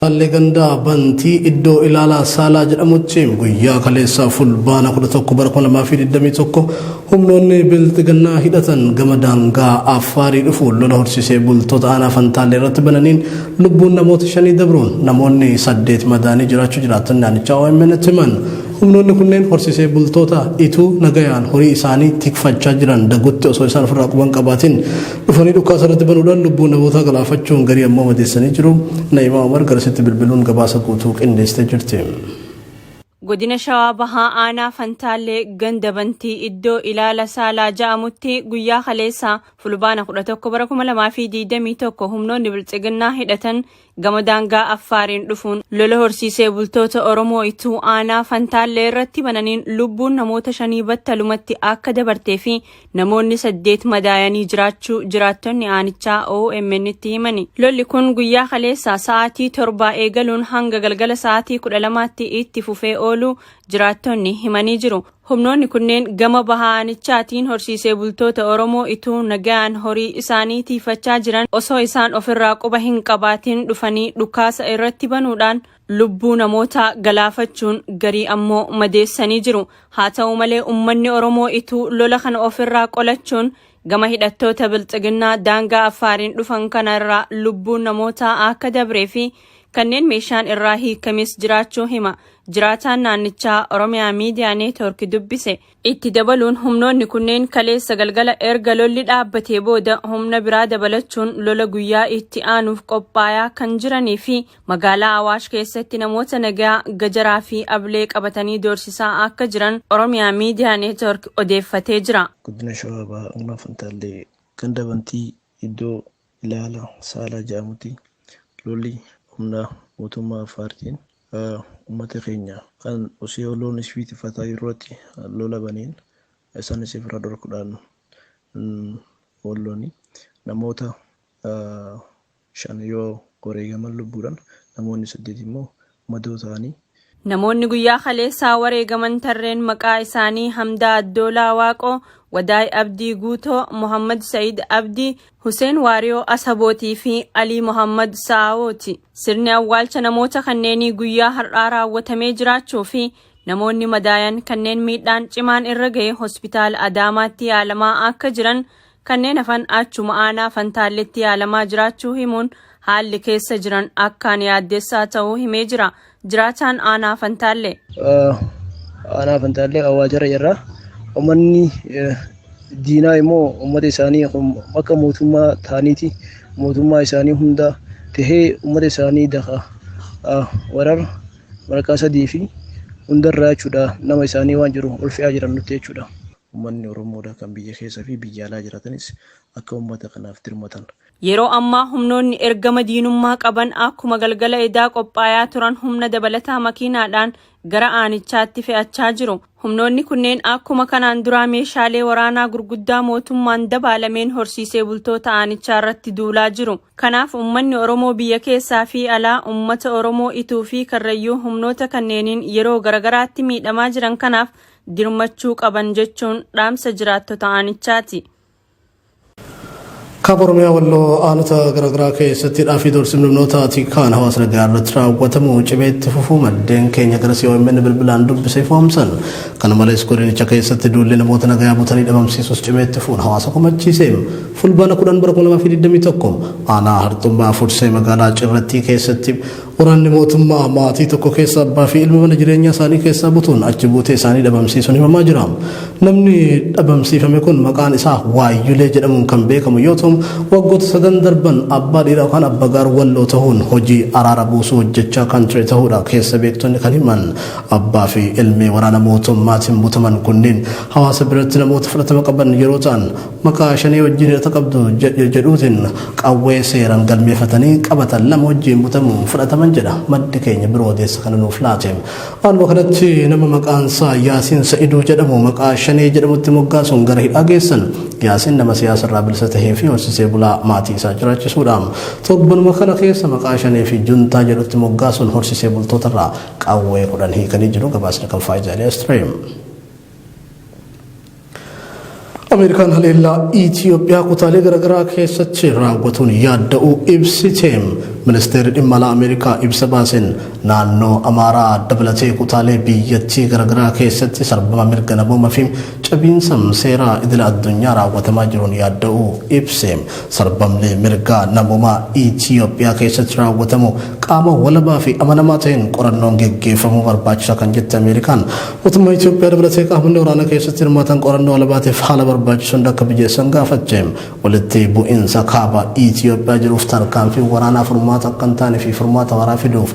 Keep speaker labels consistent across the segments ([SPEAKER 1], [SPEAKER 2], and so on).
[SPEAKER 1] Taallee gandaa bantii iddoo ilaalaa saalaa jedhamutti guyyaa kaleessaa fulbaana 11 bara 2021 humnoonni bilxiginnaa hidhatan gama daangaa affaarii dhufuun lola horsiisee bultoota aanaa fantaallee irratti bananiin lubbuun namoota shanii dabruun namoonni saddeet madaanii jiraachuu jiraattonni naannichaa OMN itti himan. Humnoonni kunneen horsiisee bultoota ituu nagayaan horii isaanii tikfachaa jiran dagutti osoo isaan ofirraa quban qabaatiin dhufanii dhukaasa irratti banuudhaan lubbuu namootaa galaafachuun garii ammoo madeessanii jiru. Na'imaa Umar garasitti bilbiluun gabaasa guutuu qindeessitee jirti.
[SPEAKER 2] Godina Shawaa Bahaa Aanaa Fantaallee ganda bantii iddoo ilaala saalaa ja'amutti guyyaa kaleessaa fulbaana 11 bara 2021 humnoonni biltsiginnaa hidhatan Gama daangaa Affaariin dhufuun lola horsiisee bultoota Oromoo Ituu Aanaa Fantaallee irratti bananiin lubbuun namoota shanii battalumatti akka dabartee fi namoonni saddeet madaayanii jiraachuu jiraattonni aanichaa OMN'tti himani. Lolli kun guyyaa kaleessaa sa'aatii torbaa eegaluun hanga galgala sa'aatii kudha lamaatti itti fufee ooluu jiraattonni himanii jiru. Humnoonni kunneen gama baha aanichaatiin horsiisee bultoota Oromoo ituu nagaan horii isaanii tiifachaa jiran osoo isaan ofirraa quba hin qabaatiin dhufanii dhukaasa irratti banuudhaan lubbuu namootaa galaafachuun garii ammoo madeessanii jiru. Haa ta'u malee ummanni Oromoo ituu lola kana ofirraa qolachuun gama hidhattoota Bilxiginnaa daangaa Affaariin dhufan kana irraa lubbuun namootaa akka dabree fi kanneen meeshaan irraa hiikames jiraachuu hima jiraataan naannichaa Oromiyaa Miidiyaa Neetwoorki dubbise itti dabaluun humnoonni kunneen kaleessa galgala erga lolli dhaabbatee booda humna biraa dabalachuun lola guyyaa itti aanuuf qophaayaa kan jiranii fi magaalaa Awaash keessatti namoota nagaa gajaraa fi ablee qabatanii doorsisaa akka jiran Oromiyaa Miidiyaa Neetwoorki odeeffatee jira. Godina Shawaa Bahaa
[SPEAKER 3] Aanaa Fantaallee ganda Bantii iddoo Ilaala Saalaa jedhamutti lolli humna mootummaa Affaartiin Ummata keenya kan osoo loon isfii tifataa jirruutti lola baneen isaanis ifirra dhorkudhaan walloni namoota shan yoo wareegaman lubbuudhan namoonni saddeet immoo madoo ta'anii. Namoonni guyyaa
[SPEAKER 2] kaleessaa wareegaman tarreen maqaa isaanii Hamdaa Addoolaa Waaqoo, Wadaay Abdii Guutoo, Mohammad Sa'id Abdii, Huseen Waariyoo Asabooti fi Alii Mohammad Sa'awooti. Sirni awwaalcha namoota kanneenii guyyaa har'aa raawwatamee jiraachuu fi namoonni madaayan kanneen miidhaan cimaan irra ga'e hospitaala Adaamaatti yaalamaa akka jiran, kanneen hafan achuma aanaa Fantaalletti yaalamaa jiraachuu himuun haalli keessa jiran akkaan yaaddessaa ta'uu himee jira. Jiraataan aanaa Fantaallee.
[SPEAKER 3] Aanaa Fantaallee awwaalcharra jirra. Uummanni diinaa immoo ummata isaanii akka mootummaa ta'aniiti mootummaa isaanii hunda tahee ummata isaanii daka warar marqaa sadii fi hundarraa jechuudha nama isaanii waan jiru ol fe'aa jiran nutti jechuudha. Ummanni Oromoodha kan biyya keessa fi biyya alaa jiratanis akka ummata kanaaf dirmatan Yeroo ammaa
[SPEAKER 2] humnoonni ergama diinummaa qaban akkuma galgala edaa qophaayaa turan humna dabalataa makiinaadhaan gara aanichaatti fe'achaa jiru. Humnoonni kunneen akkuma kanaan duraa meeshaalee waraanaa gurguddaa mootummaan dabaalameen horsiisee bultoota aanichaa irratti duulaa jiru. Kanaaf ummanni Oromoo biyya keessaa fi alaa ummata Oromoo Ituu fi Karrayyuu humnoota kanneeniin yeroo garagaraatti miidhamaa jiran kanaaf dirmachuu qaban jechuun dhaamsa jiraattota aanichaati.
[SPEAKER 1] Kaaba Oromiyaa Walloo aanota garaagaraa keessatti hidhaa fi doorsiifni humnoota tikaan hawaasa nagaa irratti raawwatamu cimee itti fufuu maddeen keenya gara COMN bilbilaan dubbise ifoomsan. Kana malees godinicha keessatti duulli namoota nagaa butanii dhabamsiisuus cimee itti fufuun hawaasa komachiise. Fulbaana 10 bara 2021 aanaa harxumbaa fursee magaalaa cirrattii keessatti Waraanni mootummaa maatii tokko keessa abbaa fi ilma mana jireenyaa isaanii keessaa butuun achi buutee isaanii dhabamsiisuun himamaa jira. Namni dhabamsiifame kun maqaan isaa Waayyulee jedhamuun kan beekamu yoo ta'u waggoota sadan darban abbaa dhiiraa yookaan abbagaar walloo ta'uun hojii araara buusuu hojjechaa kan ture ta'uudha keessa beektonni kan himan. Abbaa fi ilmi waraana mootummaatiin butaman kunniin hawaasa biratti namoota fudhatama qaban yeroo ta'an Maqaa shanee wajjin hidhata qabdu jedhuutiin qawwee seeraan galmeeffatanii qabatan lama wajjin butamuun fudhataman jedha maddi keenya biroo odeessa kana nuuf laate. Haaluma kanatti nama maqaan isaa Yaasiin Sa'iduu jedhamu maqaa shanee jedhamutti moggaasuun gara hidhaa geessan. Yaasiin nama siyaasa irraa bilisa tahee fi horsiisee bulaa maatii isaa jiraachisuudha. Torbanuma kana keessa maqaa shanee fi juntaa jedhutti moggaasuun horsiisee bultoota irraa qawwee kudhan hiikanii jiru gabaasni kan faayidaa Stream. Ameerikaan haleellaa Itiyoophiyaa kutaalee garaagaraa keessatti raawwatuun yaadda'uu ibsite. Ministeerri dhimma alaa Ameerikaa ibsa baaseen naannoo Amaaraa dabalatee kutaalee biyyattii garaagaraa keessatti sarbama mirga namooma fi cabiinsa seeraa idila addunyaa raawwatamaa jiruun yaadda'uu ibse. Sarbamni mirga namoomaa Itiyoophiyaa keessatti raawwatamu qaama walabaa fi amanamaa ta'een qorannoon geggeeffamuu barbaachisa kan jette Ameerikaan Mootummaa Itiyoophiyaa dabalatee qaamonni waraana keessatti hirmaatan qorannoo alabaatiif haala barbaachisu hunda akka mijeessan gaafatte. Walitti bu'iinsa kaaba Itiyoophiyaa jiruuf tarkaanfiin waraanaa furmaata akka hin taane fi furmaata waaraa fiduuf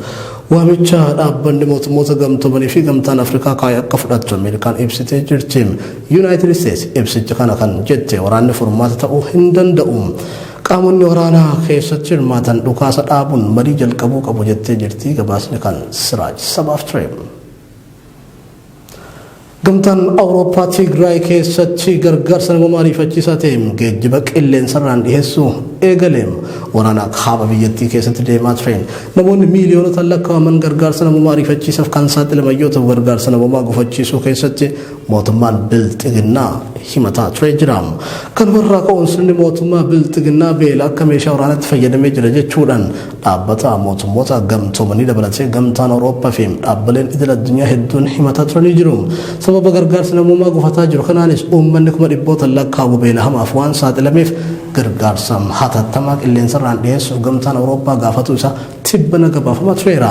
[SPEAKER 1] waamicha dhaabbanni mootummoota gamtoomanii fi gamtaan Afrikaa kaa'e akka fudhattu Ameerikaan ibsitee jirti. Yuunaayitid Isteets ibsicha kana kan jette waraanni furmaata ta'uu hin danda'u. Qaamonni waraanaa keessatti hirmaatan dhukaasa dhaabuun marii jalqabuu qabu jettee jirti gabaasni kan Siraaj sabaaf ture. Gamtaan Awurooppaa Tigraay keessatti gargaarsa namoomaa ariifachiisaa ta'e geejjiba qilleensarraan dhiheessuu eegale. Waraana kaaba biyyattii keessatti deemaa tureen namoonni miiliyoonotaan lakkaa'aman gargaarsa namoomaa ariifachiisaaf kan saaxilaman yoo ta'u gargaarsa namoomaa gufachiisuu keessatti mootummaan bilxiginnaa himataa turee jira. Kanumarraa ka'uun sirni mootummaa bilxiginnaa beela akka meeshaa waraanaatti fayyadamee jira jechuudhaan Dhaabbata Mootummoota Gamtoomanii dabalatee Gamtaan Awurooppaa fi dhaabbileen idil addunyaa hedduun himataa turanii jiru. Sababa gargaarsi namoomaa gufataa jiru kanaanis uummanni kuma dhibbootaan lakkaa'amu beela hamaaf waan saaxilameef gargaarsa hatattamaa qilleensarraan dhiyeessuuf Gamtaan Awurooppaa gaafatuu isaa tibbana gabaafamaa tureera.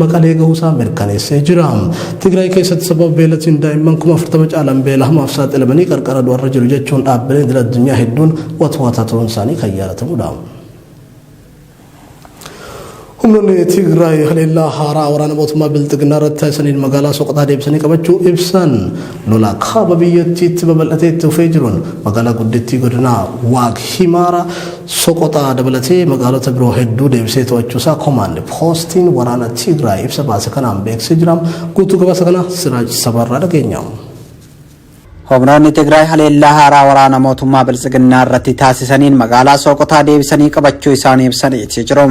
[SPEAKER 1] Maqalee gahuusaa mirkaneessee jira. Tigraay keessatti sababa beelatiin daa'imman kuma 40 caalan beela hamaaf saaxilamanii qarqara du'arra jiru jechuun dhaabbileen idil addunyaa hedduun watwaataa turuun isaanii kan yaadatamudha. Humnoonni Tigraay haleellaa haaraa waraana mootummaa Bilxiginnaa irratti taasisaniin magaalaa Soqotaa deebisanii qabachuu ibsan lola kaaba biyyattiitti babal'atee itti fufee jiruun magaalaa guddittii godinaa Waag Himaara Soqoxaa dabalatee magaalota biroo hedduu deebisee to'achuusaa komaand poostiin waraana Tigraay ibsa baase kanaan beeksisee jira. Guutuu gabaasa kana Siraaj Sabaarraa dhageenya.
[SPEAKER 4] Humnoonni Tigraay haleellaa haaraa waraana mootummaa Biltsiginnaa irratti taasisaniin magaalaa Sooqotaa deebisanii qabachuu isaanii ibsaniiti jiru.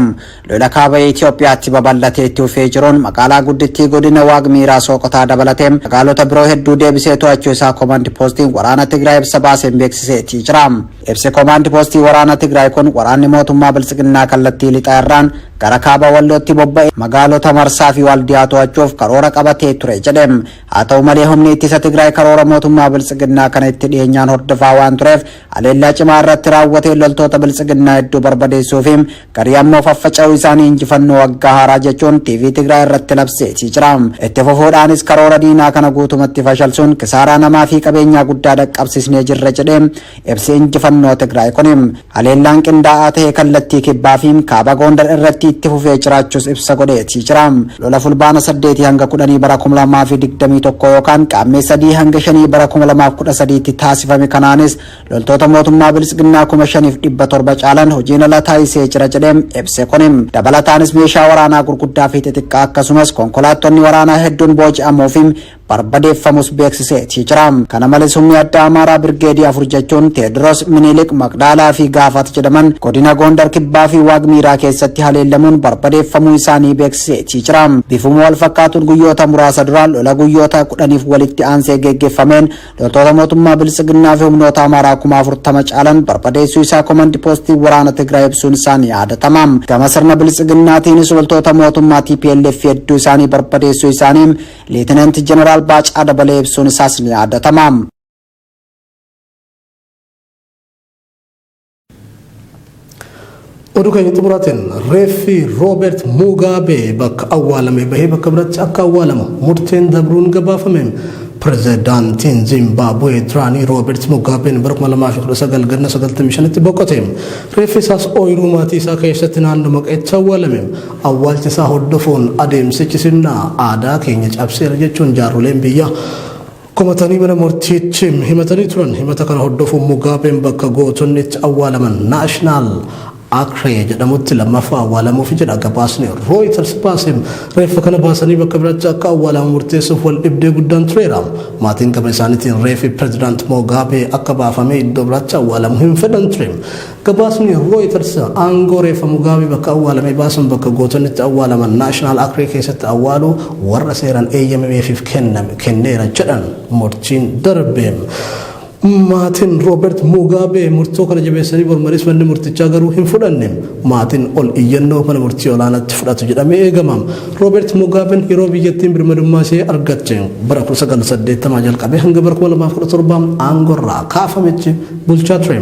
[SPEAKER 4] Lola kaaba Itoophiyaatti babal'atee itti fufee jiruun magaalaa guddittii godina Waag Miiraa Sooqotaa dabalatee magaalota biroo hedduu deebisee to'achuu isaa Komaandi Poostiin waraana Tigraay ibsa baaseen beeksiseetii jira. Ibsi Komaandi Poostii waraana Tigraay kun waraanni mootummaa Biltsiginnaa kallattii lixaa irraan gara kaaba Wallootti bobba'e magaalota Marsaa fi Waaldiyaa to'achuuf karoora qabatee ture jedhe. Haa ta'u malee humni ittisa Tigraay karoora mootummaa Biltsiginnaa kana itti dhiyeenyaan hordofaa waan tureef haleellaa cimaa irratti raawwatee loltoota Biltsiginnaa hedduu barbadeessuu fi Garii ammoo faffaca'uu isaanii injifannoo waggaa haaraa jechuun TV Tigraay irratti labseetii jira. Itti fufuudhaanis karoora diinaa kana guutumatti fashalsuun kisaaraa namaa fi qabeenyaa guddaa dhaqqabsisnee jirra jedhee ibsi injifannoo Tigraay kuni. Haleellaan qindaa'aa ta'e kallattii kibbaa fi kaaba Goondar irratti itti fufee jiraachuus ibsa godheetii jira. Lola fulbaana 8 hanga 10 bara 2021 yookaan qaammee 3 hanga 5 bara 2013 tti taasifame kanaanis Loltoota mootummaa Biltsiginnaa kuma shaniif dhibba torba caalan hojiin ala taasisee jira jedhee ibse kuni. Dabalataanis meeshaa waraanaa gurguddaa fi xixiqqaa akkasumas konkolaattonni waraanaa hedduun booji'amuu fi barbadeeffamus beeksiseetii jira. Kana malees humni addaa Amaaraa Birgeedii afur jechuun Teediroos, Minilik, Maqdaalaa fi Gaafat jedhaman godina Goondar Kibbaa fi Waaqmiiraa keessatti haleellamuun barbadeeffamuu isaanii beeksiseetii jira. Bifuma wal fakkaatuun guyyoota muraasa duraan lola guyyoota kudhaniif walitti aansee geggeeffameen Loltoota mootummaa Biltsiginnaa fi humnoota Amaaraa kuma afurtama caalan barbadeessuu isaa komandi poostiin waraana Tigraay ibsuun isaa ni yaadatama. Gama sirna Biltsiginnaatiinis loltoota mootummaa TPLF hedduu isaanii barbadeessuu isaanii Liitinanti Jeneraal Baacaa Dabalee ibsuun isaas ni yaadatama.
[SPEAKER 1] Oduu keenya xumuraatiin reeffi Roobeert Muugaabee bakka awwaalamee bahee bakka biratti akka awwaalamu murteen dabruun gabaafame. Pirezidaantiin Zimbaabuwee duraanii Roobeert Muugaabeen bara 2019 ganna 95tti boqote. Reeffi isaas ooyiruu maatii isaa keessatti naannoo maqeetti awwaalame. Awwaalcha isaa hordofuun adeemsichi sirna aadaa keenya cabseera jechuun jaarroleen biyyaa komatanii mana murtiitti himatanii turan. Himata kana hordofuun Mugaabeen bakka gootonni itti awwaalaman Naashinaal Akree jedhamutti lammaffaa awwaalamuufi jedha gabaasni Rooyiters baase. Reeffa kana baasanii bakka biraatti akka awwaalamu murteessuuf wal dhibdee guddaan tureera. Maatiin gama isaaniitiin reefi Pireezidaant Mugaabee akka baafamee iddoo biraatti awwaalamu hin fedhan ture. Gabaasni Rooyitars aangoo reeffa Mugaabee bakka awwaalame baasuun bakka gootonni itti awwaalaman Naashinaal Akrii keessatti awwaaluu warra seeraan eeyyamameefiif kenname kenneera jedhan murtiin darbe. Maatiin Roobeert Mugaabee murtoo kana jabeessanii mormanis manni murtichaa garuu hin fudhanne. Maatiin ol iyyannoo mana murtii olaanaatti fudhatu jedhamee eegama. Roobeert Mugaabeen yeroo biyyattiin birmadummaa ishee argatte bara 1980 jalqabee hanga bara 2017 aangorraa kaafametti bulchaa ture.